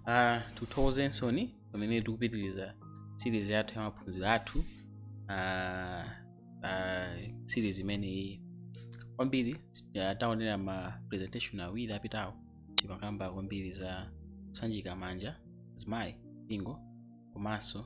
uh, tikuthokozensoni pamene tikupitiriza series yathu ya maphunziro athu uh, uh, series imeneyi kwambiri uh, taonera ma presentation awiri apitawo timakamba kwambiri za kusanjika manja azimayi mpingo komanso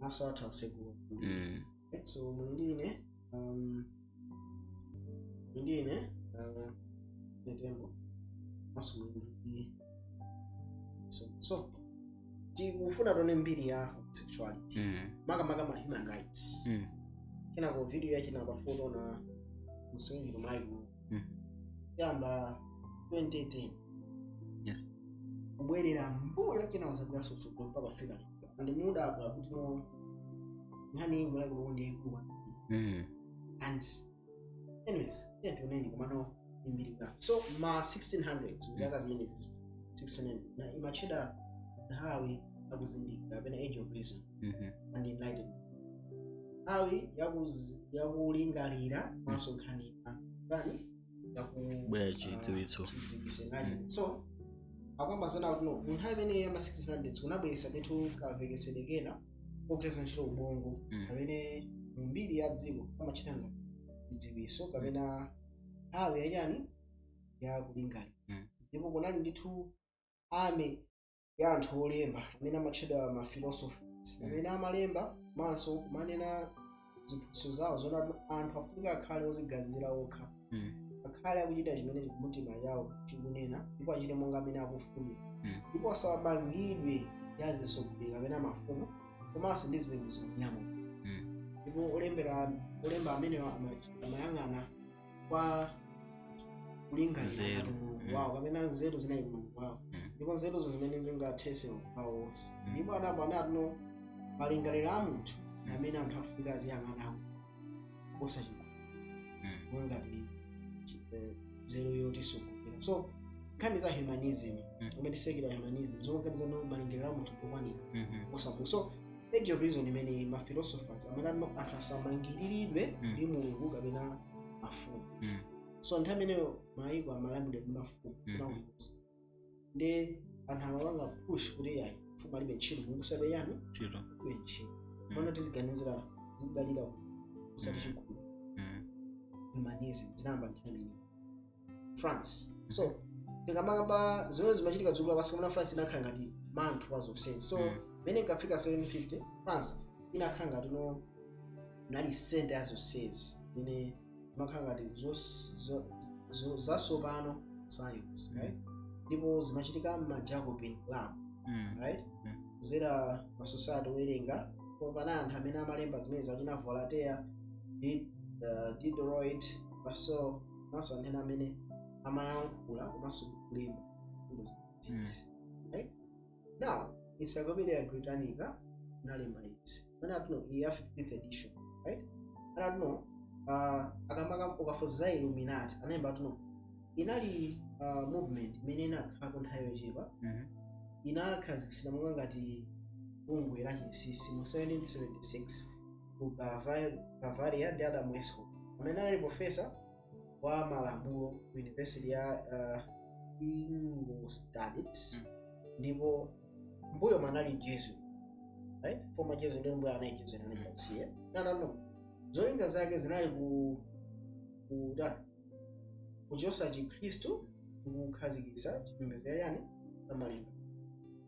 maso athu akusegula mm. so muli ndi ine um, muli ndi ine uh, netembo maso muli ndi so, so tikufuna tione mbiri ya homosexuality mm. makamaka ma human rights mm. kenako video yache ndimafuna ndi msimikire mu Bible mm. yamba 2010 yes. kubwerera mbuyo kenaka tizabwera kutsogolo mpaka fika and mudabwa kuti no nkhani iyi muliko no ndiye kuwa Mm. and anyways yeah tioneni komano mbiri ya so ma 1600s mzaka zimenezi 1600 na imatchedwa nthawi yakuzindikira kapena age of reason Mhm. and enlightenment nthawi yakuz- yakulingalira komanso nthawi ya- chani yakubwera chidziwitso mm. so tikukamba zonena kuti no mu nthawi imeneyi ya ma 1600 kunabweretsa ndithu kamvetsetsedwe kena kogwiritsa ntchito ubongo mm. kamene mu mbiri ya dziko amatchedwa ngati chidziwitso kapena nthawi yachani ya kulingalira mm. ndipo kunali ndithu ame ya anthu olemba amene amatchedwa mafilosophers amene amalemba komanso kumanena ziphunzitso zawo zonena kuti anthu afunika akhale oziganizira okha Mm. akhale akuchita chimene mtima wawo chikunena ndipo achite monga amene akufunira Mm. ndipo asamamangidwe ndi azitsogoleri kapena mafumu komanso ndi zipembedzo zawo Mm. ndipo olembera olemba amenewa ama- amayang'ana kwa kulingalira Nzeru. ngati mulungu Mm. wawo kapena nzeru zinali mulungu wawo Mm. ndipo nzeruzo zimene zingathetse mavuto onse Mm. ndipo adapo adati no malingaliro a munthu ndi amene anthu afunika aziyang'anawo osati chikhulu Mm. mongati nzeru yotitsogolera so nkhani za humanism Mm. imene secular humanism zomwe nkhani za malingaliro a munthu okwanira Mhm. kuposa mulungu so age of reason imene ma philosophers amanena no anthu asamangiriridwe Mm. ndi mulungu kapena mafumu Mm. so nthawi imeneyo mayiko amalamulidwa ndi mafumu Mm. komanso ndi anthu amapanga push kuti ayi mfumu alibe ntchito mulungu alibe chani Chiro. alibe ntchito Mm. pano tiziganizira tizidalira osati Mm. chikhulu Mm. humanism zinayamba nthawi imeneyo France so tikamakamba zimene zimachitika dziko lapansi kamene France inakhala ngati mutu wa zonsezi so Mm. imene ikafika 1750 France inakhala ngati ndiyo inali center ya zonsezi imene imakhala ngati zos- zo- zo- zasopano science right? ndipo zimachitika m'ma Jacobin club Mm. right Mm. kuzera masociety owerenga popanga anthu amene amalemba zimene zachina Voltaire Di- uh, Diderot baso komanso anthu ena amene amayankhula komanso kulemba mfundo zimenezi right now Encyclopedia Britannica inalemba izi amanena kuti iyi ya 15th edition right amanena kuti uh, akamakamba kufotokoza Illuminati analemba kuti inali uh, movement imene inakhalako nthawi yochepa Mhm. inakhazikitsidwa monga ngati bungwe la chinsinsi mu 1776 ku Bava- Bavaria ndi Adam Weishaupt amene anali profesa wa malamulo ku yunivesiti ya uh, Ingolstadt ndipo mbuyomu anali Jesuit right? former Jesuit ndiye mbuyo anali Jesuit anaita kusiya nanano zolinga zake zinali ku ku da kuchotsa chikhristu ndikukhazikitsa chipembedzo chachani amalinga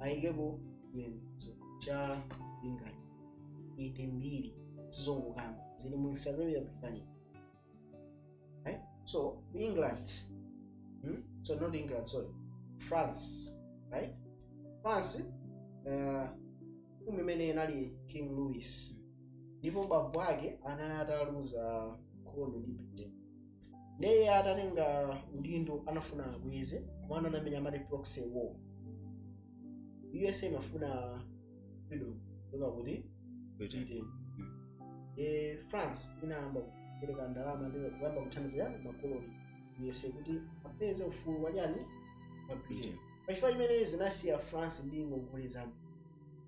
ayikepo chipembedzo cha lingaliro eti mbiri sizongokamba zili mu Encyclopedia Britannica right? so England hmm? so not England sorry France right France uh, mfumu imene inali King Louis ndipo bambo ake anali ataluza nkhondo ndi Britain ndiye atatenga udindo anafuna abweze kuma anamenya amati proxy war USA imafuna freedom kuchoka kwa Britain e, France inayamba kupereka ndalama ndi kuyamba kuthandizira makoloni a USA kuti apeze ufulu wachani wa Britain pachifukwa chimenechi zinasiya France ndi ngongole zambiri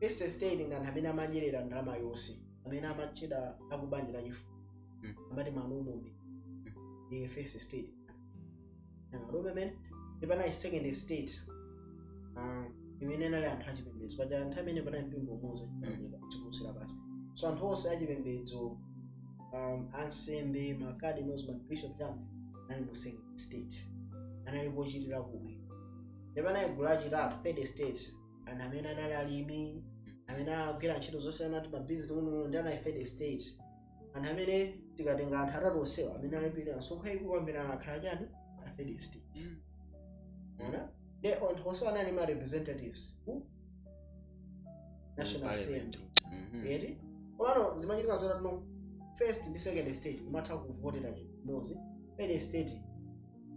first estate ndi anthu amene amadyerera ndalama yonse amene amatchedwa akubanja la chifumu Mm. amati malume ndi first estate nanga lume amene ndi panali second estate ah, imene inali anthu achipembedzo paja nthawi imene panali mpingo umodzi achipembedzo chikumusira basi so anthu onse achipembedzo um, ansembe macardinals mabishop chama anali mu second estate anali pochitira kuwe ndi panali gulu lachitatu third estate anthu amene anali alimi amene agwira ntchito zosiyana ndi mabizinesi uno ndi anali third estate anthu amene tikatenga anthu atatu onsewa amene alipira msonkho yayikulu kwambiri anakhala chani a third estate Mwaona? They also anali ndi ma representatives mu National Assembly. Mhm. Eti? Komano zimachitika zona no first ndi second estate imatha kuvotera chimozi. Third estate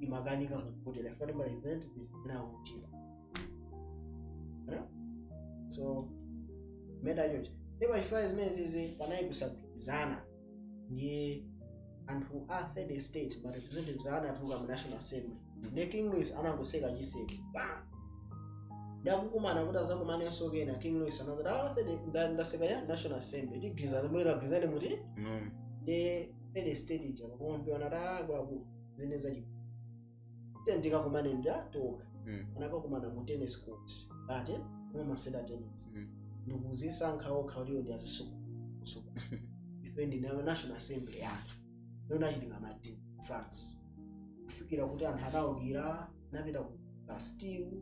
imakanika kuvotera ifati ma representative na uchira. Huh? so meta choncho ndi pachifukwa cha zimenezizi panali kusagwirizana ndiye anthu a third estate ma representatives awo anatuluka mu national assembly ndi king louis anangoseka chiseko pa ndakukumana kuti azakumanenso kena king louis anazati "Ah, 30 nda- ndaseka ya national assembly tigwirizana mwina agwirizane muti Mm. ndi third estate ija pakumapeto anati akuluakulu zine zachi then tikakumane patokha Mm. anakakumana mu tennis court ate mumasewera tennis Mm. ndikuzisankha okha kuti ndi azisuku ife tili nayo national assembly yathu yona achitika madini ku france kufikira kuti anthu anaukira anapita ku bastille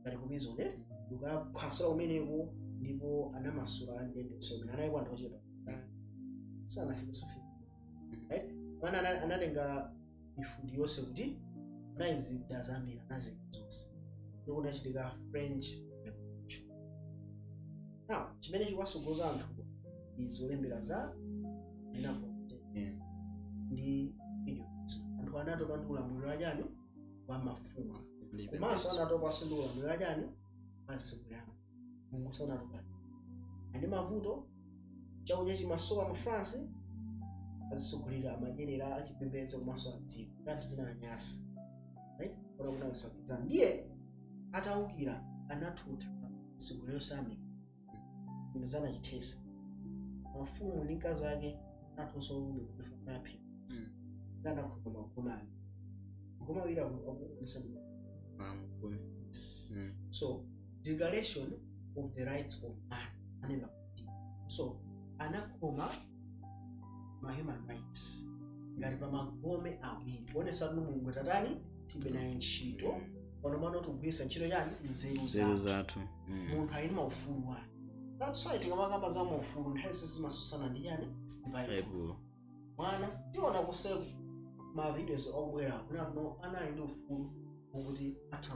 ngati ku prison eh? ndikukaphwasula kumeneko ndipo anamasula andende amene analiko anthu ochepa sanafikisofi right pamene ana- anatenga mifuti yonse kunali zida zambiri anazika zonse ndiye kunachitika french revolution now chimene chikuwasogoza anthu ndi zolembera za ana Voltaire Mm. ndi video anthu anatopa ndi ulamuliro wachani wa mafumu Ndi- komanso anatopanso ndi ulamuliro wachani wa ansembe ao mulungu so anatopa ndi mavuto chakudya chimasowa mu france azisogoleri amadyerera achipembedzo komanso adziko ngati zinawanyasa right kuona kuti akusaukitsa ndiye ataukira anathuta zigolero same imezana chithesa mafumu ndi akazi ake athonso olumizanaphi ndi anakhuza makomani makomawira akumusabisa Mama, kumi. so declaration of the rights of man anena kuti so anakhoma ma human rights ngati pa magome awiri kuonesa kuti mulungu tatani tilibe naye ntchito pano pano tikugwiritsa ntchito chani nzeru nzeru zathu zathu Mm. munthu ali ndi maufulu wake that's why tikamakamba za maufulu nthawi zonse zimasusana ndi chani ndi baibulo baibulo mwina tinaona kuseko ma videos obwera kuno ana ali ndi ufulu wokuti atha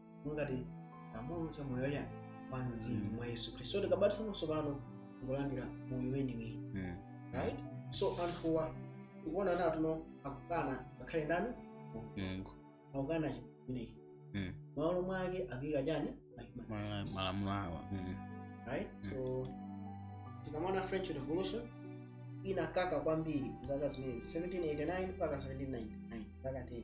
ngati lamulo cha moyo wa mzimu Mm. mwa yesu khristu so tikabatira tsopano kulandira moyo weniweni Mm. right so anthuwa tikuona anthu ano akukana ngakhale ndani Mungu. akukana chimenechi Mm. malo mwake akuika chani Mahima. Mala- Malamulo awa. Mm. right so tikamona french revolution inakaka kwambiri zaka zimenezi 1789 mpaka 1799 mpaka 10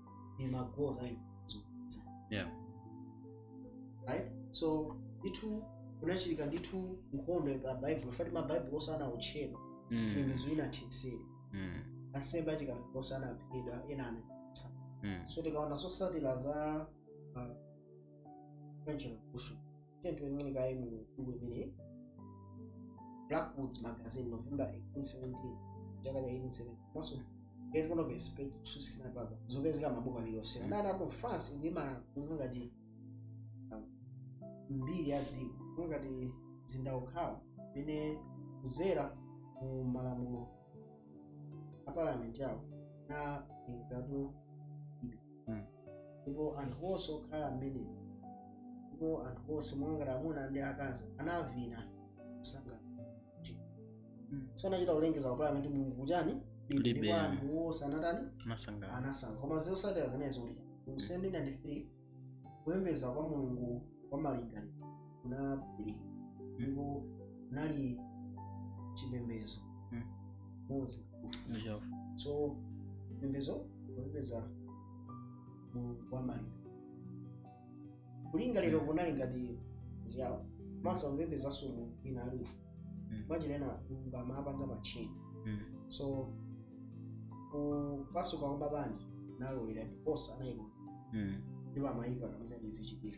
ni magoals ayo zokudza ayo right so ndithu kunachitika ndithu nkhondo pa baibulo fati mabaibulo onse anaotchedwa mm. mizinda ina tenseri mm. ansembe achikatolika onse anaphedwa ena ana mm. so tikaona zotsatira za uh, French Revolution tiyeni tiwerengeni kaye mu buku limeneli blackwoods magazine november 1870 chaka cha 1870 komanso Great Controversy page 269 papa zikupezeka mabuku aliyonse akunena kuti france ndi mu ngati um, mbiri ya dziko ngati mzinda wokhawo umene kudzera mu malamulo a parliament yawo na ingizatu Mm. ndipo anthu onse okhala mmenemo ndipo anthu onse mwangati amuna ndi akazi anavina kusangalala Mm. so anachita kulengeza ku parliament mulungu kuchani Kulibe. ndipo anthu onse anatani Anasangala. anasangalala koma zotsatira zinazo kuti mu 1793 kupembedza kwa mulungu wa malingaliro kunayambika ndipo kunali chipembedzo Mm. mozi Ndicho. so chipembedzo kupembedza mulungu wa malingaliro kunali ngati ziyawo masa kupembedzanso mulungu wina aliyense Mm. machinena mulungu amapanga matcheni Mm. so kupasuka kwa mabanja kunaloledwa ndiponso anayikona Mm. ndipo amayika kamazati zichitika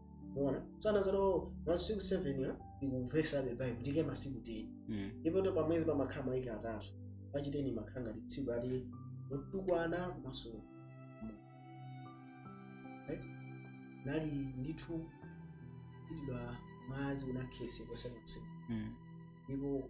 unaona tsana zoto masiku 7 aja ndikuchotsa the bible ndi kuika masiku 10 Mm. ndipo tsopano pamwezi pamakhala mawiki atatu pachiteni makhala ngati tsiku lija lotukwana komanso Right? nali ndithu pitidwa mwazi unakhetsedwa konsekonse Mm. ndipo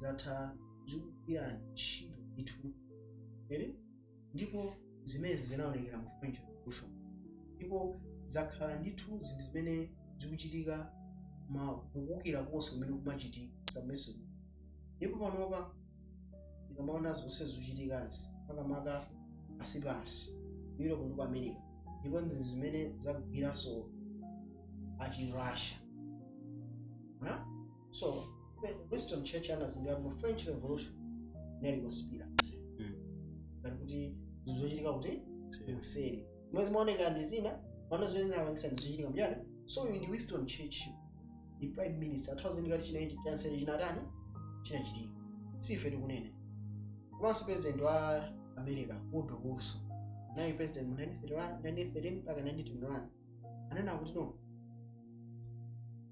zakhala zikugwira ntchito ndithu ere ndipo zimenezi zinaonekera mu french revolution ndipo zakhala ndithu zinthu zimene zikuchitika mu kuukira konse kumene kumachitika zimenezo ndipo panopa tikamaona zonse zikuchitikazi makamaka asi pansi europe ndi ku america ndipo ndi zimene zagwiranso achirussia so the winston churchill anazindikira kuti french revolution inali conspiracy Mm. ngati kuti zinthu zochitika kuti kuseri mwezi mmaonekera ndi zina maona zimene zinapangisa ndi zochitika mjani so uyu ndi winston churchill ndi prime minister athawazindikira kuti chinaiti chanseri chinatani chinachitika sife tikunene komanso president wa america woodrow wilson naye president mu 1913 mpaka 1921 anena kuti no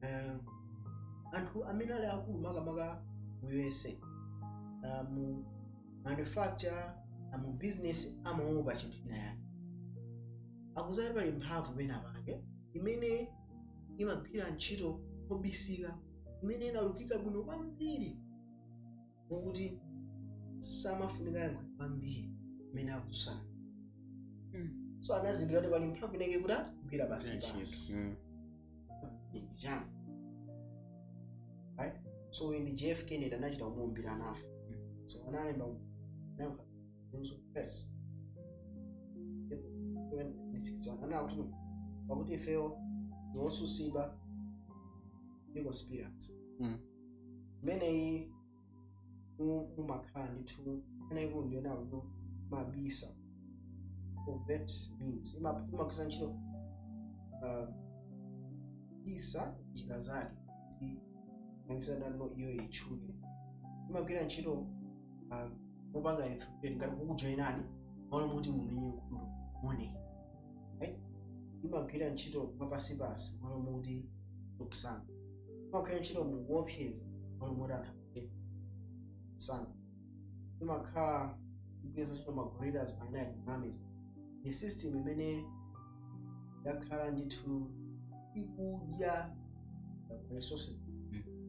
eh, anthu amene ali akulu makamaka mu usa ah, mu manufacture ah, mu business amawopa chinthu china yake akudziwa kuti pali mphamvu pena pake imene imagwira ntchito mobisika imene inalukika bwino kwambiri mwakuti samafunika kuyankhula kwambiri mmene akutsutsana Mm. so anazindikira kuti pali mphamvu imene ikugwira pansipansi Mm. Jam. Right? So ndi JF Kennedy anachita kumuwombera anafa. So analemba nafa. Nso press. Even mu 61 anena kuti pakuti ifeyo ndi otsutsidwa ndi conspiracy. Mm. imeneyi mu- mumakhala ndithu ana ikulu ndiyona kuti imabisa covert means Ima- imagwiritsa ntchito kubisa njira zake kuti makisanano iyo itchuke imagwira ntchito um, mopanga infiltrate ngati kukujoyinani malo moti mumenye nkhondo mmene right? imagwira ntchito mwapansipansi malo moti mukusankha imagwira ntchito mokuopseza malo moti anthu akuti sankha imakhala ikugwiritsa ntchito maguerrillas pamene ma armies ndi system imene yakhala ndithu ikudya resources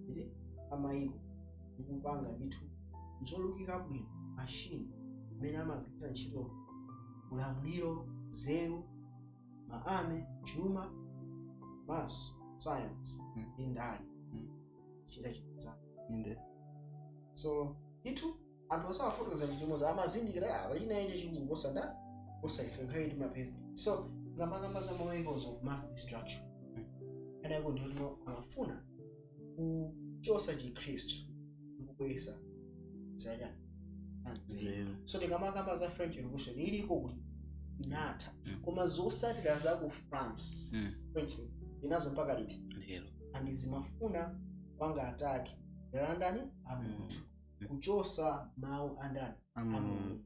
za amayiko ikupanga ndithu zolukika bwino mashini imene amagwiritsa ntchito ulamuliro nzeru ma army chuma basi science Mm. ndi ndale Mm. chitachitazana inde so ndithu anthu asawafotokoza chimodzimodzi amazindikira kuti pali china chake chachikulu kuposa kuposa ife nthawi ndi mapezi so tikamakamba za maweapons of mass destruction Mm. adako ndiyo amafuna kuchosa chikhristu ndikubweza zanya nzeru so tikamakamba za french revolution zilipo kuti inatha Mm. koma zotsatira za ku france Mm. France ili nazo mpaka liti lero and zimafuna kupanga attack ndani a Mulungu Mm. kuchosa mawu a ndani a mulungu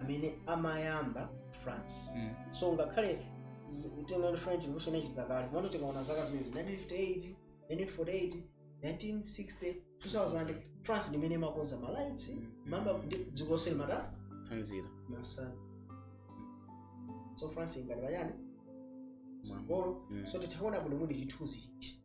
amene amayamba france Mm. so ngakhale zi- tinaona french revolution inachitika kale komano tikaona zaka zimene 1958 1948 1960 2000 france ndi imene imakonza ma rights mwamba ndi dziko lonse limatha tsanzira masana so france ingati pachani patsogolo Mm. so titha kuona bwino kuti chithunzi chichi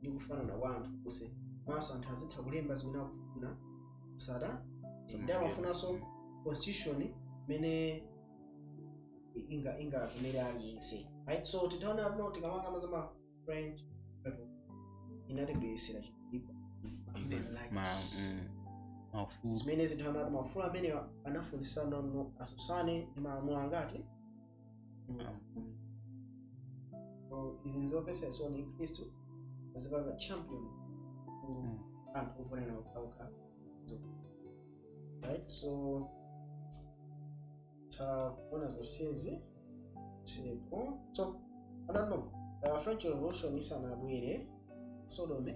ndi kufanana kwa anthu onse komanso anthu azitha kulemba zimene akufuna kutsata ndi amafunanso constitution imene inga ingakomere aliyense right so titha kuona kuti tikamakamba za ma french people inatibweretsera chikulipa human ma rights mm, maufulu zimene zinthu anati maufulu amene anafunika no asutsane ndi malamulo angati izi nzomvetsa chisoni chikhristu chizipanga champion ku anthu ogonana okhaokha right so takuona zonsezi sipo so i don't know uh, french revolution isanabwere sodomy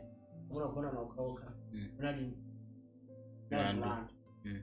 amuna kugonana okhaokha Mm. unali Mlandu. mlandu Mm.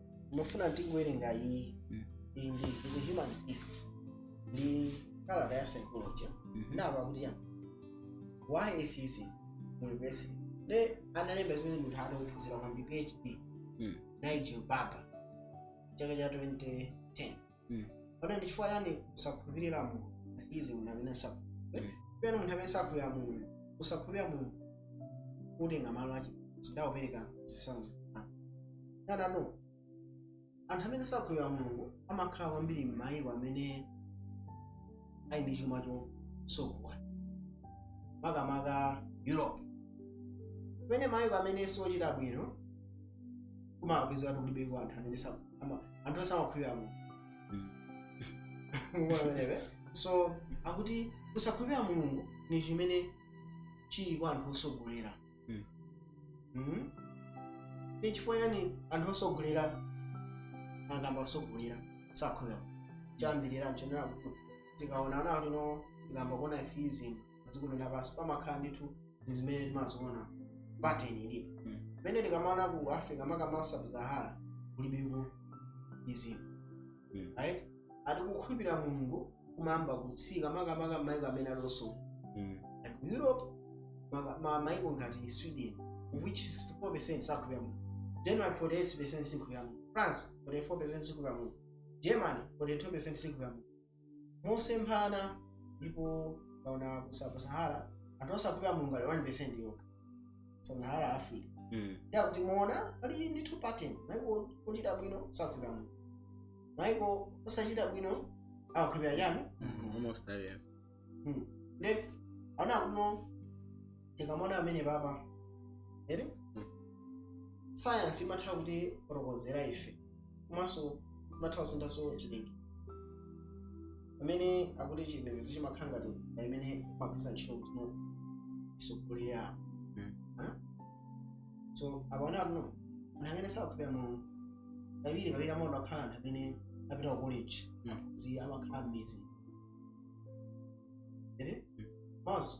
ndimafuna tingowerenga iyi Mm. iyi ndi ndi the human beast ndi kalata ya psychology Mhm. ndamva kuti ya why atheism mu university nde analemba zimenezi munthu anaphunzira kwambiri phd Mm. nigel barber chaka cha 2010 Mm. kodi ndi chifukwa chani kusakhulupirira mulungu izi munthu amene sakhulupirira Mm. pena munthu amene sakhulupirira mulungu kusakhulupirira mulungu kutenga malo ache nde akupereka zitsanzo nanano anthu amene sakhulupirira mulungu amakhala kwambiri m'mayiko amene ali ndi chuma chochuluka makamaka europe pamene mayiko amene si ochita bwino kumapezeka kuti kulibeko anthu amene sakhulupirira Ama- anthu osamakhulupirira mulungu Mm. Mukuona pamenepe? so akuti kusakhulupirira mulungu ni chimene chili kwa anthu otsogola Mm. Mhm. ni chifukwa chani anthu otsogola akukamba otsogola sakhulupirira kwambiri ochenjera tikaona ana ati no tikayamba kuona atheism dziko lino lapansi pamakhala ndithu zinthu zimene timaziona pattern ilipo Mm. pamene tikamaona ku africa makamaka sub-sahara kulibeko izizo Mm. right ati kukhulupirira mulungu kumayamba kutsika makamaka maiko amene alonso Mm. and ku europe maka- ma- maiko ngati sweden of which 64 percent sakhulupirira mulungu denmark 48 percent sikhulupirira mulungu france 44 percent sikhulupirira mulungu germany 42 percent sikhulupirira mulungu mosemphana ndipo kaona ku sub-sahara anthu osakhulupirira mulungu ali 1% yokha sub-sahara africa Mm. ya kuti muona pali ndi two pattern maiko ochita bwino sakhulupirira mulungu maiko osachita bwino akhulupirira chani Mm, almost aliens. then aona kuno tikamaona pamenepapa eti sayansi imatha kutifotokozera ife komanso imatha kusinthanso chidiki pamene akuti chipembedzo chimakhala ngati na imene imagwiritsa ntchito kuti isogolere apo Mm. Ah? so apaona pano anthu amene sakhulupirira mulungu kawirikawiri amaona akhala anthu amene apita ku college Mm. zi amakhala m'mizi ere Mm. maso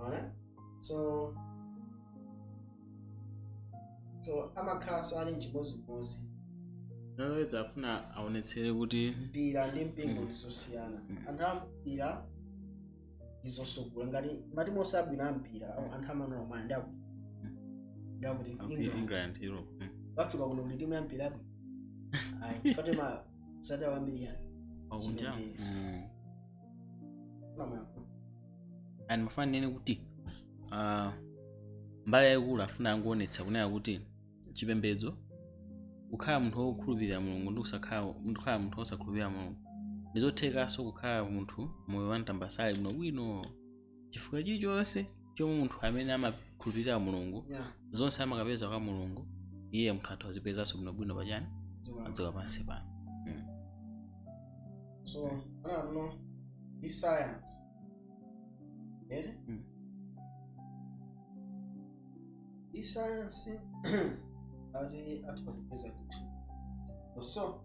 Alright? so so amakhalanso ali mchimozimozi nalowedza afuna aonetsere kuti mpira ndi mpingo ndizosiyana anthu a mpira ndizosukula ngati matimu onse abwino a mpira awo anthu amanena mwana ndi akuti ndi akuti akuti england england europe Mm. bafika kuno kuti timu ya mpira abwino ayi fatima sadawambiriyani pakunja Chimene. pamwako ndimafuna ninene kuti ah, mbali yayikulu afuna angoonetsa kunena kuti chipembedzo kukhala munthu wokhulupirira mulungu ndi kusakhala munthu- kukhala munthu wosakhulupirira mulungu ndizothekanso kukhala munthu moyo wa mtambasale bwinobwino chifukwa chilichonse chomwe munthu amene amakhulupirira mulungu Yeah. zonse amakapeza kwa mulungu iye munthu atha kuzipezanso bwinobwino pachani Dziko. padziko pansi pano So, I don't know. Be science. Yeah? Mm. Be science. Ati atipatsa zinthu. So,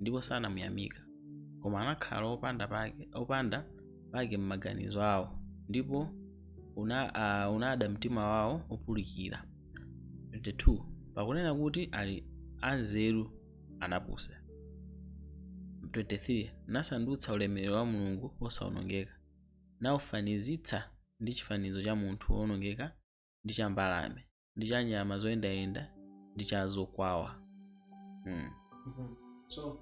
ndipo sanamuyamika koma anakhala opanda pake opanda pake m'maganizo awo ndipo una, uh, unada mtima wawo wopulukira 22 pakunena kuti ali anzeru anapusa 23 nasandutsa ulemerero wa mulungu wosaonongeka naufanizitsa ndi chifanizo cha munthu woonongeka ndi cha mbalame ndi cha nyama zoyendayenda ndi cha zokwawa mm. Mhm. So,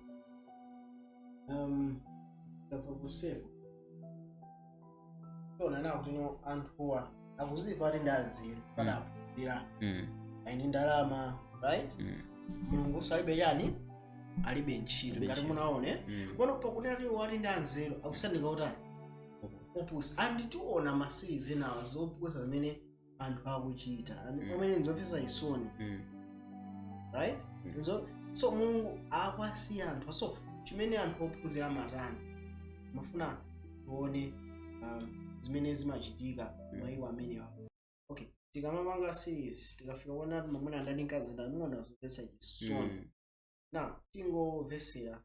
um, ndabva kuseko tona nawo kuti no anthuwa akuziwa ati ndi anzeru kaya akuphunzira Mm. ali ndi ndalama right Mm. mulunguso alibe chani alibe ntchito Alibe ngati ntchito. munaone Mm. pano pakunena kuti ali ndi anzeru akusanduka otani opusa anditiona masirizi enawa zopusa zimene anthu akuchita and Mm. pamene nzomvetsa chisoni Mm. right Mm. Nzo- so mulungu akwasiya anthu so chimene anthu ophunzira amatani ndimafuna tione um, zimene zimachitika Mm. mwa iwo amenewa okay tikamapanga series tikafika kuona kuti mamuna ndani mkazi ndani muona zomvetsa chisoni Mm. now tingomvetsera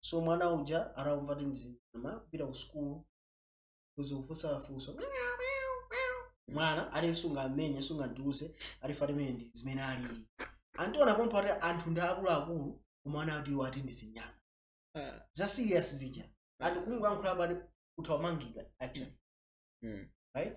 so mwana uja atamva kuti ndi chinyama kupita ku sukulu kudzakufunsa funso mwana ati sungammenye sungaduse ati basi mmene ndi zimene alili amationa pompo ati anthu ndi akuluakulu koma ana ati iwo ati ndi zinyama Ah. za serious zija and kungoyankhula basi ukutha kumangidwa actually Mm. right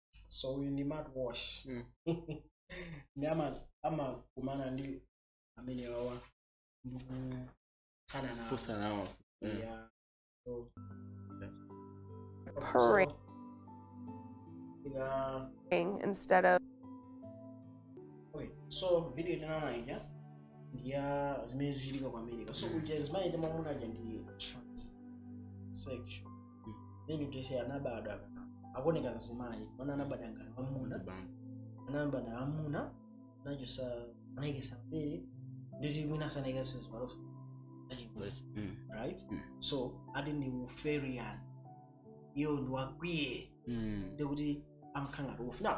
so uyu ndi Matt Walsh Mm. ndi ama- amakumana ndi amene awawa ndikukhala nawo Fusa nawo. Mm. Yeah. So, Pray. so, ika- instead of okay. so video tinaona ija ndiya zimene zichitika ku america so kuja zimayenda mamuna uja ndi transsexual then iyeyo anabadwa akuoneka mzimayi mwana anabadwa ngati wamuna Zibambo. anabadwa wamuna nachosa anayikisa mabere ndikuti mwina sanayikitse zipaloso Basi, mm, right Mm. so ati ndi therian iyeyo ndi wa queer mm. ndikuti amakhala ngati wolf now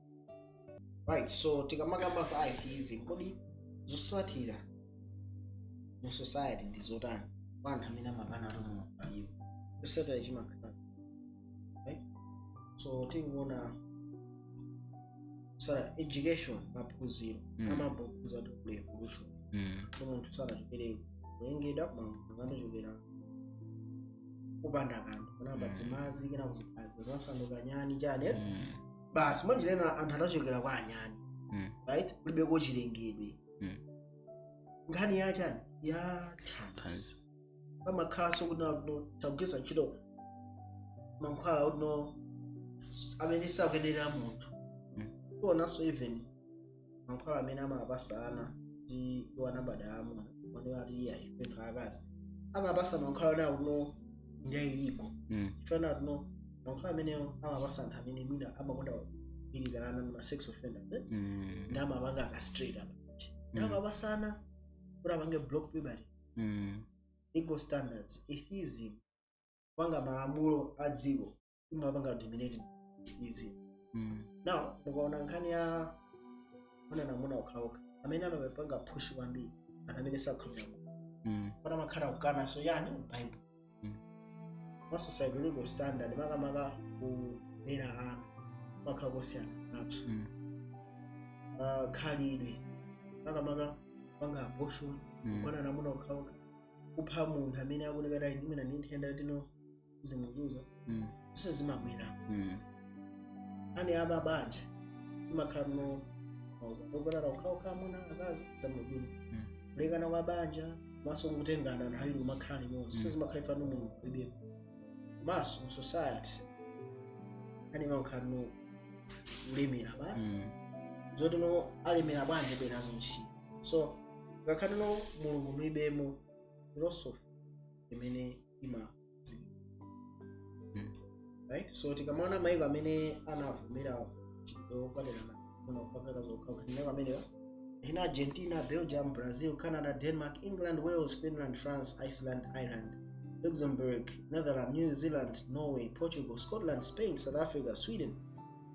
right so tikamakamba za atheism kodi zotsatira mu society ndi zotani kwa anthu amene amakana kuti mulungu alipo chotsatira chimakhala right so tingoona za education maphunziro Mm. amaphunzira kuti kuli evolution Mm. so munthu sanachokere kulengedwa koma munthu anachokera kupanda kanthu kunayamba Mm. dzimadzi kena kuziphaza zinasanduka nyani chani Mm. basi mwanjira ina anthu anachokera kwa anyani Mm. right kulibeko chilengedwe Mm. nkhani ya chani ya thanzi Thanzi. pamakhalanso kuti no tagwiritsa ntchito mankhwala kuti no amene sakuyenera munthu Mm. tionanso even mankhwala amene amapatsa ana ndi iwo anabadwa amuna amene ati iyayi ndi anthu aakazi amapatsa mankhwala ona akuno ndiyayilipo Mm. chifukwa kuti mankhwala amenewo amapatsa anthu amene mwina amakonda kugwiririra ana ndi ma sex offenders eh? Mm. ndi amapanga castrate apa ndi Mm. amapatsa ana kuti apange block puberty Mm. legal standards atheism kupanga malamulo a dziko imapanga dominated atheism Mm. now mukaona nkhani yogonana amuna okhaokha amene amapanga push kwambiri anthu amene sakhulupirira Mm. kuti amakhala kukana so yani bible Mm. ma sociological standard makamaka kulera ana kumakhala kosiyana nazo Mm. Ah, khalidwe makamaka kupanga abortion Mm. kugonana amuna okhaokha kupha munthu amene akuti kata imena ndi nthenda yoti no zimuzunza Mm. zonse zimabwera Mm. ani a mabanja imakhala no ogonana okhaokha amuna akazi zamabwino Mm. kulekana kwa banja komanso kutengana nthawi ino kumakhala limodzi Mm. izi zimakhala chifukwa no mulungu mulibemo komanso mu society ani imakhala no kulemera basi Mm. zoti no alemera bwanje alibe nazo ntchito so ngakhale no mulungu mulibemo philosophy imene imadziwika Mm. right so tikamaona maiko amene anavomera mchitidwe wokwatirana amuna kapena akazi okhaokha maiko amenewa ndi argentina belgium brazil canada denmark england wales finland france iceland ireland luxembourg netherlands new zealand norway portugal scotland spain south africa sweden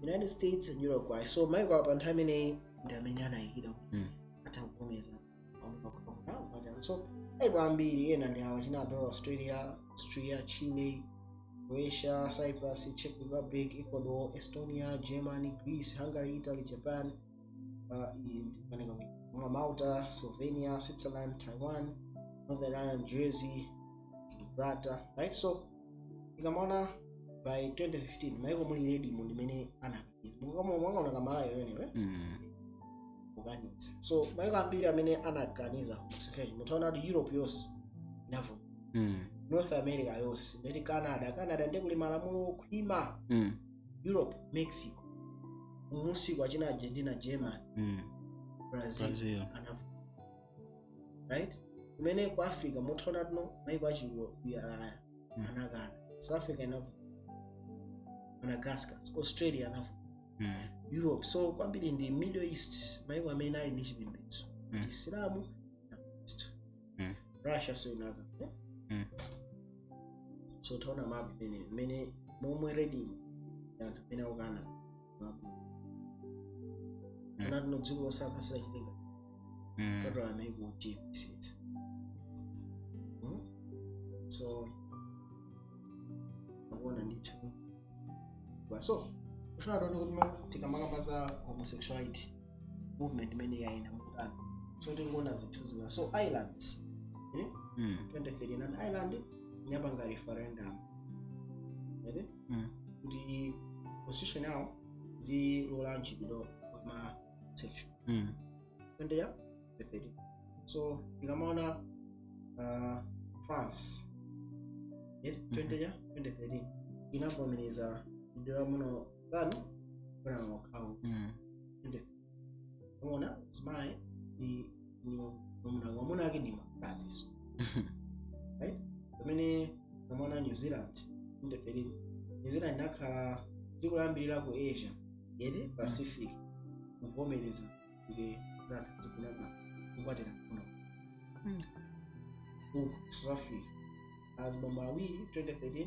united states and uruguay so maiko a pa nthawi imeneyi ndi amene anayikira kuti Mm. atavomereza so aibu ambiri ena ndi awa china adora australia austria chile croatia cyprus czech republic ecuador estonia germany greece hungary italy japan uh, malta slovenia switzerland taiwan northern ireland jersey gibraltar right so ikamaona by 2015 maiko muli redimu ndimene ana mwangaonanga malayo amenewa Mm. kuganitsa so maiko ambiri amene anakaniza homosexuality mutha kuona kuti europe yonse inavomera Mm. north america yonse ndeti canada canada ndiye kuli malamulo okhwima Mm. europe mexico kumunsiko achina argentina german Mm. brazil Brazil. anavomera right kumene ku africa mutha kuona kuti no maiko achikuyalaya Mm. anakana south africa inavomera madagascar australia anavomera Mm. europe so kwambiri ndi middle east maiko amene ali ndi chipembedzo Mm. chisilamu na kristu Mm. russia so inakana Mm. so taona mapu imene imene momwe red ndi anthu amene akukana anati no dziko lonse anthu asanachitenga Mm. total amene kuchipisiza so akuona ndithu Ba- so kufuna tione kuti ma- tikamakamba za homosexuality movement imene yayenda mukutani so tingoona zinthu zina so ireland eh? Mm. 2013 and ireland inapanga referendum Ere? mm. kuti position yawo zilola mchitidwe wa homosexual mm. 2013 so tikamaona uh, france yeah, 20 ya 2013 inavomereza mchitidwe wa amuna kugonana okhaokha mm. umeona mzimayi ni ni mwamuna mwamuna ake ni mkaziso right pamene umeona new zealand ndeferi new zealand nakhala dziko layambirira ku asia yete pacific kuvomereza ile brand zinganatu kukwatira kuno Mm. ku south africa azibambo awiri 2013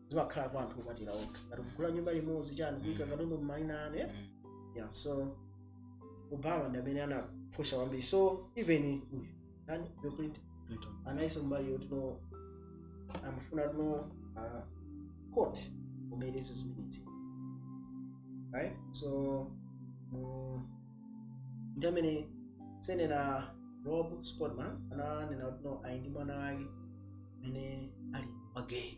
zimakhala kwa anthu okwatira okha ngati kugula nyumba limodzi chani kuika katundu mmaina anu yeah? Mm. yeah so obama ndi amene anapusha kwambiri so even uyu nani bill clinton Clinton. anaiso mbali yoti no amafuna kuti no uh, court kumene izi zimenezi right so mm, ndi amene senator rob portman ananena kuti no ali ndi mwana wake amene ali wagay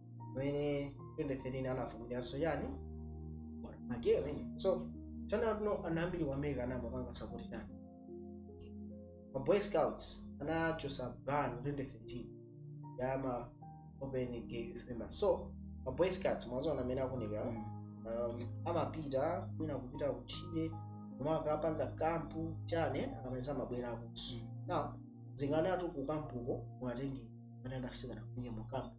pamene 2013 anavomerezanso chani magay amene so tsano ana ambiri ku america anayamba kupanga sapoti chani ma boy scouts anachosa ban 2013 ya ma open gay youth members so ma boy scouts mwaziona amene amaoneka um, amapita mwina kupita kutchire kukapanga kampu chani akamaliza amabwerakonso now zinganatu kukampuko mwatenge anadasikana kunye mukampu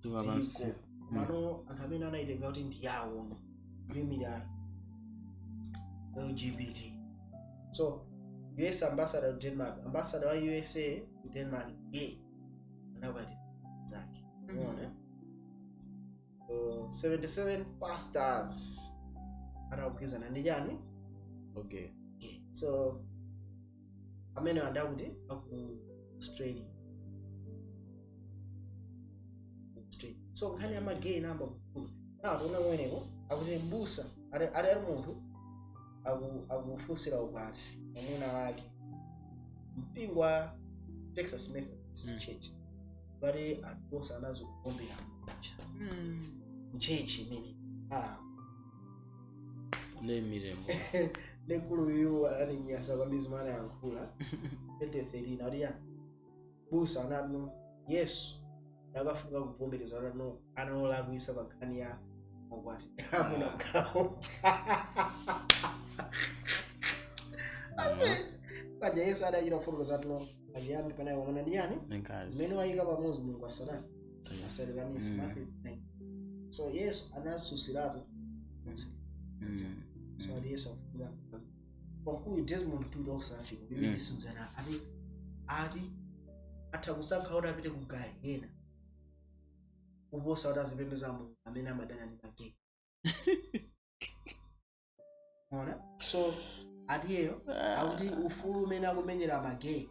dziko lapansi dziko mano anthu amene anayitenga kuti ndi yawo yoimira lgbt so us ambassador to denmark ambassador wa usa ku denmark gay ana abwenzi ake umeona so 77 pastors anagwirizana ndi chani okay gay so amene anali akuti aku australia Australia. so nkhani ya magay inayamba kukula tinaona kumeneko akuti mbusa ali ali ali munthu aku- akufunsira ukwati mwamuna wake mpingo wa texas methodist Mm. church pali anthu onse anadzuka kuombera mkucha Mm. mchechi imene ah lemirembo mkulu uyu ananinyasa kwambiri zimene anayankhula 2013 aliya busa anati no yesu akufunika kuvomereza kuti no anali wolakwisa pa nkhani ya ukwati wa amuna kukhala ase paja yesu adachita kufotokoza kuti no pachiyambi panali mwamuna ndi ndani zimene wayika pamodzi mulungu asanayi asalekanise Mm. Matthew 9. so yesu anasusiratu Mm. so ati yesu akufuza wamkulu desmond tutu waku south africa Mm. pamene simzana ati ati atha kusankha kuti apite ku gahena kuposa kuti azipembeza mulungu amene amadana ndi magay ona so atiyeyo akuti ufulu umene akumenyera magay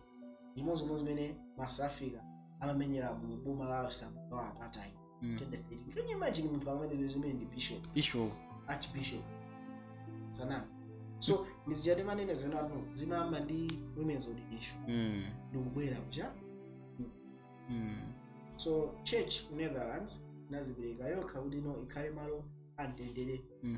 zimodzi mwa zimene ma South Africa amamenyera mu boma lawo samukawa apatayi Mm. twenty thirteen can you imagine munthu amanena zimenezi ndi bishop Bishop. archbishop sanani so ndiziyati manene zinthu zimayamba ndi women's ordination Mm. ndikubwera kucha Mm. so church ku netherlands inadzipereka yokha kuti ino ikhale malo amtendere Mm.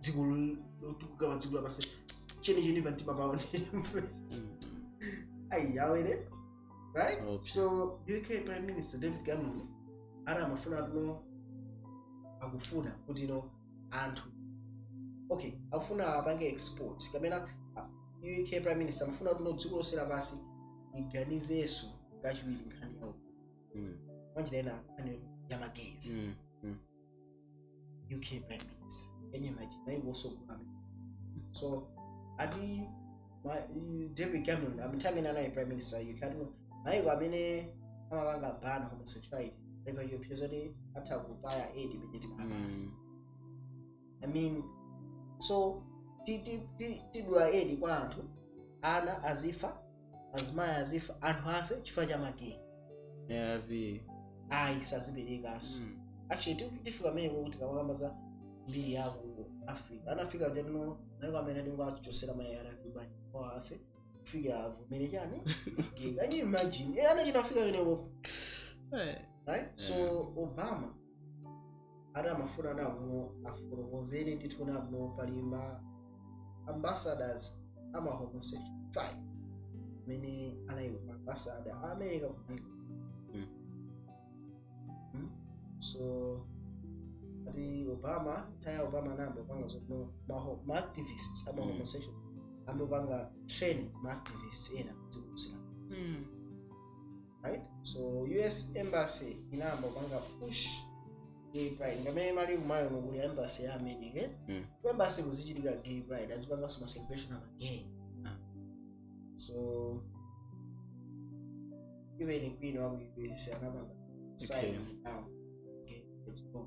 dziko lo- lotukuka pa dziko lapansi chenicheni pa mtima pawo ayi awere right Okay. so uk prime minister david cameron ana amafuna kuti no akufuna kuti no anthu okay akufuna apange export kapena ah, uk prime minister amafuna kuti no dziko lonse lapansi liganizenso kachiwiri nkhani yawo Mm. panjira ena nkhani ya magay Mm. UK Prime Minister enye maji na hivyo so kuna so ati ma- i- David Cameron amtamina naye Prime Minister UK ati maiko amene amapanga ban homosexuality ndipo iyo pezoti atha kutaya aid imene timapasa Mm. I mean, so ti- ti- ti- tidula edi kwa anthu ana azifa azimayi azifa anthu afe chifukwa cha magay arv ayi saziperekanso Mm. actually ti- tifika pamene kuti kamakamba za mbiri ya ku africa anafika kuti no maiko amene atingochotsera ma arv banja kwawo afe kufika avomere chani magay can you imagine Eh, anachita kufika pamenepo Eh, right so obama ana amafuna anabwino afotokozere ndithu nabwino pali ma ambassadors a ma homosexual five amene anali ma ambassador a america kumene Mm. Mm. so ati obama nthawi ya obama anayamba kupanga zoti no maho- ma activists ama Mm. homosexual amapanga train ma activists ena kuzikusira Mm. right so us embassy inayamba kupanga push gay pride ngamene mali kumayo nokuli embassy ya america Mm. ku embassy kuzichitika gay pride azipanganso ma celebration ama gay Ah. so even queen wa ku us anapanga sign Okay. down gay pride law.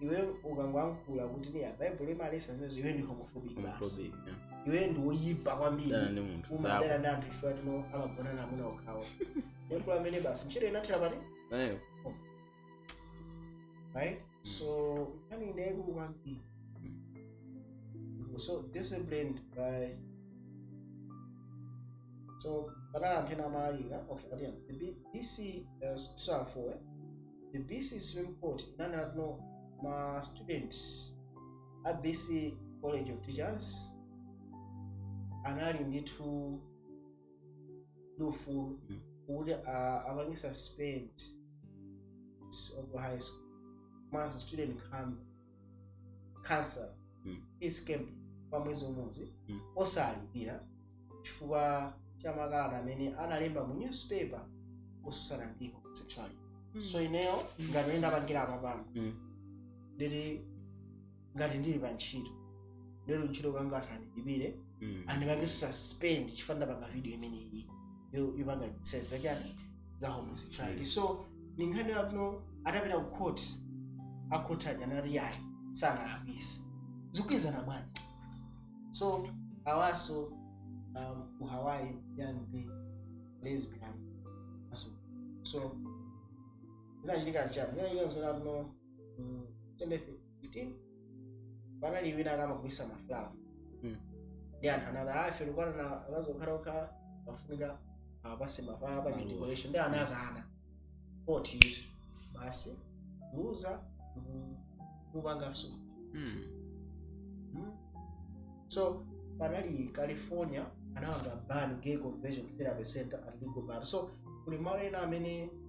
iwe ukangoyankhula kuti iyayi baibulo imaletsa zimenezo iwe ndi homophobic basi Homophobic, yeah. iwe ndi woyipa kwambiri Dana ndi munthu umadana zako ndi anthu ife oti no amagonana amuna okhawo yankhula amene basi ntchito inathera pati Eh, right so nkhani ndi yayikulu kwambiri so disciplined by so panali anthu ena amalalika okay but yeah the B- bc uh, 2004 eh? the bc supreme court inanena kuti no ma student a bc college of teachers anali ndithu ndi ufulu Mm. kuti a- apange suspend s- of high school komanso student coun council Mm. peace camp kwa mwezi umodzi Mm. osalipira chifukwa cha makalata amene analemba mu newspaper kutsutsana ndi homosexuality so ineyo ngati amene ndapangiramu apapano Mm. nditi ngati ndili pa ntchito ndiye ku ntchito kanga asandilipire Mm. andipange suspend chifukwa ndapanga video imeneyi yo- yopanga censor chani za homosexuality so ni nkhani yakuno atapita ku court a court aja anati ayi sanalakwise zikugwirizana bwanji so awanso um, ku hawaii ya ma lesbian so so zinachitika nchani zinachitika nzonakuno tendefe kuti panali wina ankagulitsa mafulawa Mm. ndi anthu anati ife tukwatana akazi okhaokha pafunika atipatse mafulawa pa Maluwa. decoration ndi anakana poti izi basi kuluza kupanganso Mm. Mm. so panali california anapanga ban gay conversion therapy center at legal battle so kuli malo ena amene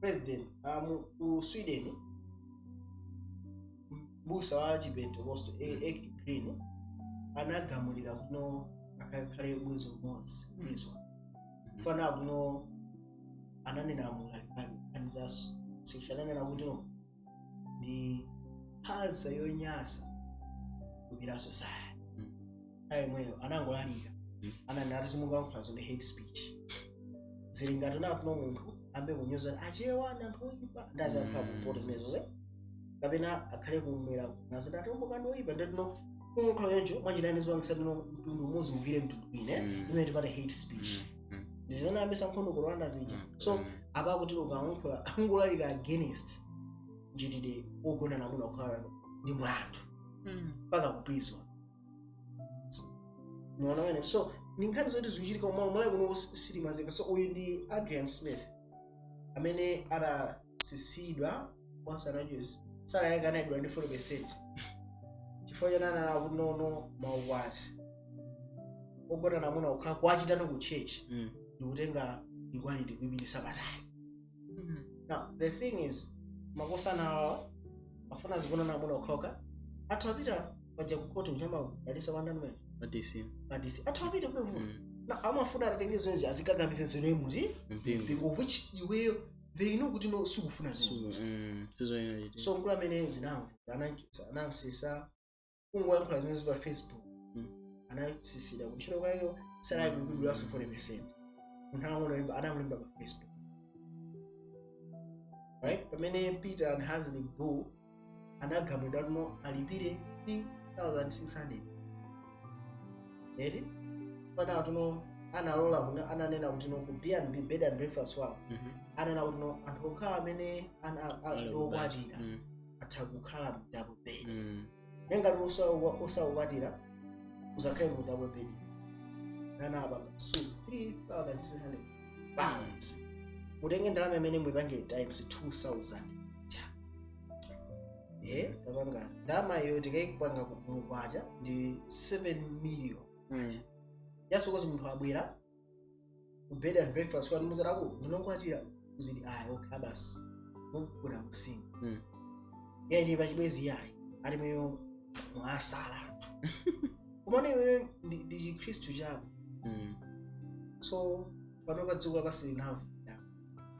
president ah, mu- ku sweden m'busa wa chipentekosto Ake Green anagamulidwa kutino akakhale mwezi umodzi Mm. mwezi chifukwa kutino ananena mu ulaliki komanso sikuti ananena kuti no ndi phalsa yonyasa kupita ku society Mm. ayi m'meneyo anangolalikira Mm. anati zomwe mukuyankhulazo ndi hate speech zili ngati kunoko munthu ayambe kunyoza achewa ndi anthu oyipa ndiye azikakhala Mm. kumpoto zimenezo ze kapena akhale kumwera nazoti atumbuka ndi oyipa ndiye kutino kuyankhula choncho mwanjirani zipangitsa kutino mtundu umodzi uukire mtundu wina Mm. imene timati hate speech Mm. Mm. ndizimene zinayambitsa nkhondo ku rwanda zija Mm. so Mm. apa kuti ukalankhula kungolalika against mchitidwe wogonana amuna okhaokha ndi mlandu Mm. mpaka kupita m'ndende so ndi nkhani zoti zikuchitika mmalo ku Malawi kuno sitimadziwa so uyu ndi adrian smith amene ada tsitsidwa ntchito anachotsa salary yake inadulidwa ndi 40 percent chifukwa chani ananena kutino maukwati ogonana amuna okhaokha kuwachitira ku church Mm. ndikutenga equality kuipititsa patali Mhm. now the thing is makosana awawa afuna zogonana amuna okhaokha atha kupita paja kukhoti kukawadalitsa kwa amene Madisi. madisi atha kupita kunevu Mm. na amafuna atenge zimenezi azikakamize nzeru mu Mpingo. mpingo which iwowo they know kuti no sukufuna zinthu sizoyenera kuchita so mkulu ameneyu zinavuta anachotsa anamtsitsa kungoyankhula zimenezi pa facebook Mm. anatsitsidwa kuntchito kwawo salari kudulanso 40 percent munthu anangolemba anangolemba pa facebook right pamene peter and Hazelmary Bull anagamulidwa kuti no alipire 3600 eri pana kuti no analola kuti ananena kuti no ku bnb bed and breakfast wawo Mhm. ananena kuti no anthu okhala amene ana- a- a- Ali okwatira Mm. atha kukhala mu double bed Mm. nde ngati osakwatira uzakhale mu double bed anapanga so 3600 pounds mutenge ndalama imene muipange times 2000 ja eh tapanga ndalama iyo tikaipanga ku makwacha ndi 7 million Mm. just because munthu abwera ku bed and breakfast kwanu muzatako ndinu okwatira kuzidi ayi okay basi mugona mu single Mm. yayi ndi pachibwenzi yayi ali mweyo mwasala kumane iweyo ndi ndi chikhristu chako Mm. so pano pa dziko lapansi lino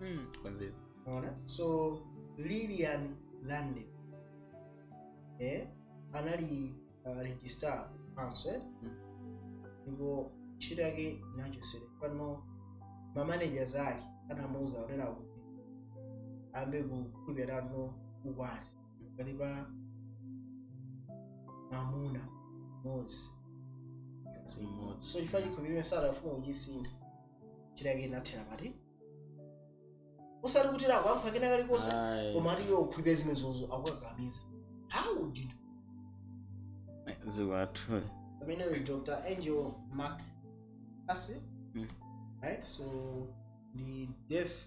Mm. Kwambiri. Unaona? So Lillian Ladele eh, anali uh, registrar council eh? Mm. ndipo ntchito yake inachosera pano mamanagers ake anamuuza kuti ambe kukhulupirira no ukwati pakati pa mwamuna mmodzi ndi mkazi mmodzi so chifukwa chikhulupiriro sadafuna kuchisintha ntchito yake inathera pati usati kuti lakuyankha kena kalikonse Ayi. koma ati iwe ukhulupirira zimenezozo akukakamiza how did you zikwathu pamene uyu dr angela mccaskill Mm. right so ndi deaf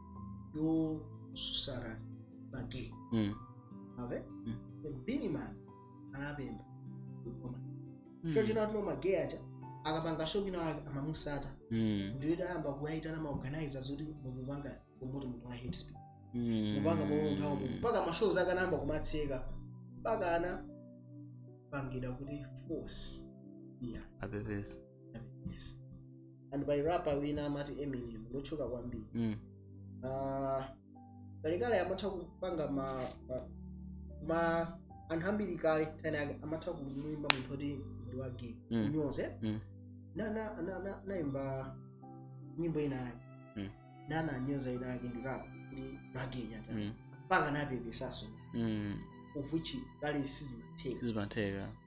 yosusana magay mm. ave mm. beenie man anapempha koma mm. cho chino atino magay aja akapanga show ina amamusata mm. ndiye atayamba kuwaitana maorganizer zoti mukupanga promote munthu wa hate speech mm. mupanga munthawo mpaka mashows ake anayamba kumatseka mpaka anapangidwa kuti force iye apepese Yes. and pali rapper wina amati eminem ndi otchuka kwambiri Mm. Ah, kalekale amatha kupanga ma, ma, ma anthu ambiri kale nthawi yake amatha kumuyimba munthu oti ndi wa gay Mm. kunyoze Mm. na na na na naimba nyimbo ina yake Mm. na ananyoza wina wake ndi rap ndi wa gay nyata Mm. mpaka anapepesaso Mm. of which kale sizimatheka Zimatheka.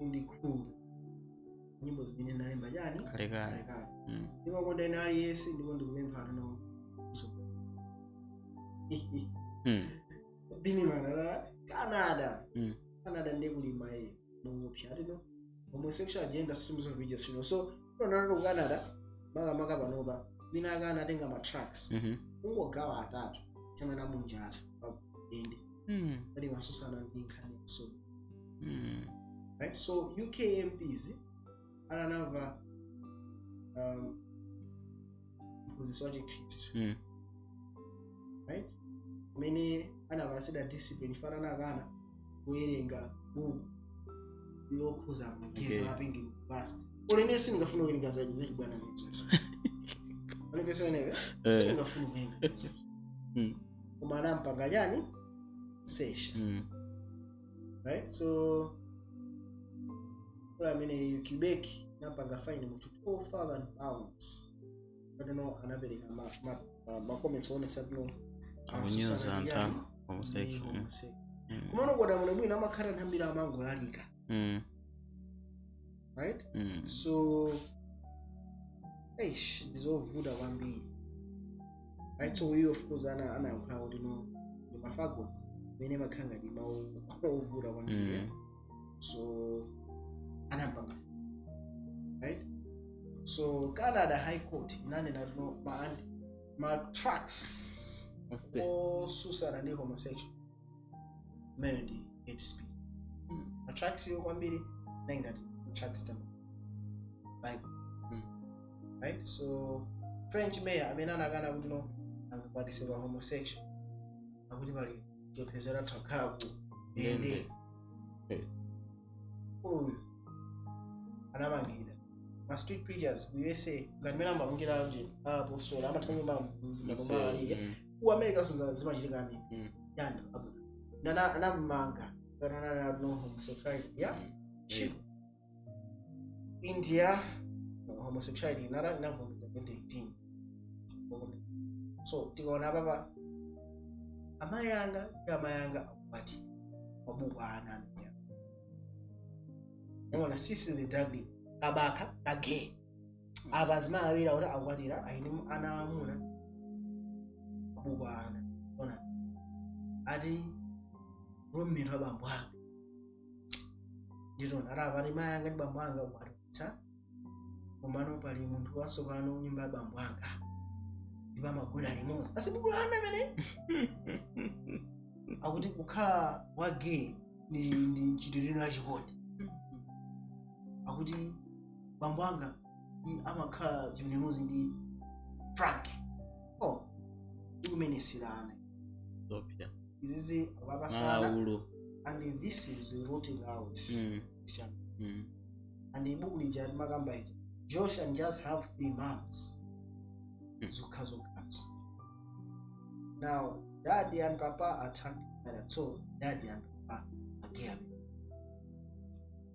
Only cool. Nyimbo zimene ndalemba chani? Kale kale. Mm. Ndipo konda wina aliyense ndipo ndikupempha ano. So. Mm. Beenie Man Canada. Mm. Canada ndiye kulimba. Mungu pshari no. Homosexual agenda systems of religious freedom. So, tonalo ku Canada makamaka panopa wina akana atenga ma tracts. Mhm. Ungogawa atatu. Chama amunjata. Ende. mm. pali masosana ndi nkhani ya soja mm. right so uk mps ananamva um, mphunzitsi wa chikhristu mm. right amene anapatsidwa discipline chifukwa anakana kuwerenga buku lokhuza ma gays Okay. okay. apengeni kupasa ulene sindingafuna kuwerenga za- zachibwana mizozo ulekesoneve Eh. sindingafuna kuwerenga Mm. koma anampanga chani censure Mm. right so kula amene quebec anampanga fine munthu 12000 pounds ati no anapereka ma- ma- ma- macomments oonetsa kuti no Akunyoza anthu a- homosexual. Mm. komano kuona bwino bwino amakhala anthu ambiri amangolalika mm. right mm. so eish ndizovuta kwambiri right so uyu of course ana anayankhula kuti no ndi mafagot amene amakhala ngati mawu ovuta kwambiri eh? Mm. so anampanga right so canada high court inanena kuti no ma, ma tracts otsutsana ndi homosexual imeneyo ndi hate speech Mm. matracts iwo kwambiri ndi ngati matracts a mu bible Mm. right so french mayor amene anakana kuti no sangakwatitse ma homosexual akuti pali chiopsezo atha kukhala ku ndende Eh. uyu anamangidwa ma street preachers ku usa ngati mmene amamangidwa apo sola amatha nyumba mbuzi matombalaliye Mm. ku america so zimachitika amene Mm. yani nana anamanga kana nana no homosexuality yeah Chip. India homosexuality nayo inavumbuka 2018 so tikaona apapa amai anga ndi amai anga akwati mabuku a ana amene ona sissy the duckling kabakha kagay apa azimayi awiri akuti akukwatira ayini ana amuna mabuku a ana ona ati roommate wa bambo anga nditona ati apa ati mayi anga ndi bambo anga ukwati watha komano pali munthu watsopano nyumba ya bambo anga ndipo amagona limodzi asi buku la ana amene akuti kukhala wa gay ndi ndi mchitidwe wina wachikondi akuti bambo anga mm, amakhala chimnemuzi ndi frank oh ikumene silana zopita izizi wapasana malaulo and this is rooting out Mm, Christian. mm. and ibuku lija limakamba iti josh and just have three moms Hmm. zokha zokhazo now daddy and papa attacked that so daddy and papa again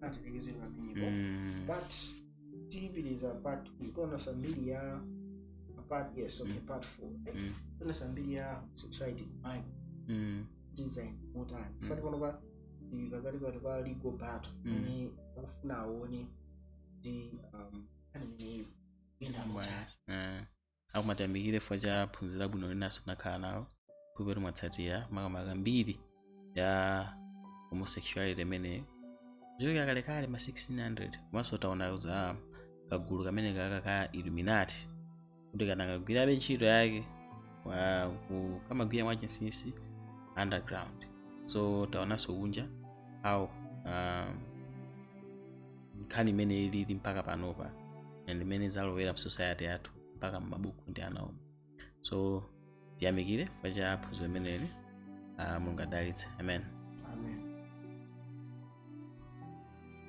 atilekezere pamenepo Mm. but tipitiriza part tiona za mbiri ya part yes okay Mm. part four Eh, Mm. tiona za mbiri ya sexuality mind Mm. design motani Mm. kuti panopa ndi pakati pa legal battle Mm. amene akufuna aone ndi um, aneneyo kuyenda motani Eh. akumati yamikire chifukwa cha phunziro labwino linanso tinakhala nalo khulupirira mwatsatira makamaka mbiri ya homosexuality imeneyi kuchokera kalekale ma 1600 komanso taona za kagulu kamene kaka ka illuminati kuti kanakagwirabe ntchito yake wa- ku- kamagwira mwachinsinsi underground so taonanso kunja how um, nkhani imene ilili mpaka panopa and mmene yalowera mu society yathu mpaka m'mabuku ndi ana omwe so tiyamikire chifukwa cha phunziro limeneli uh, mulungu adalitse amen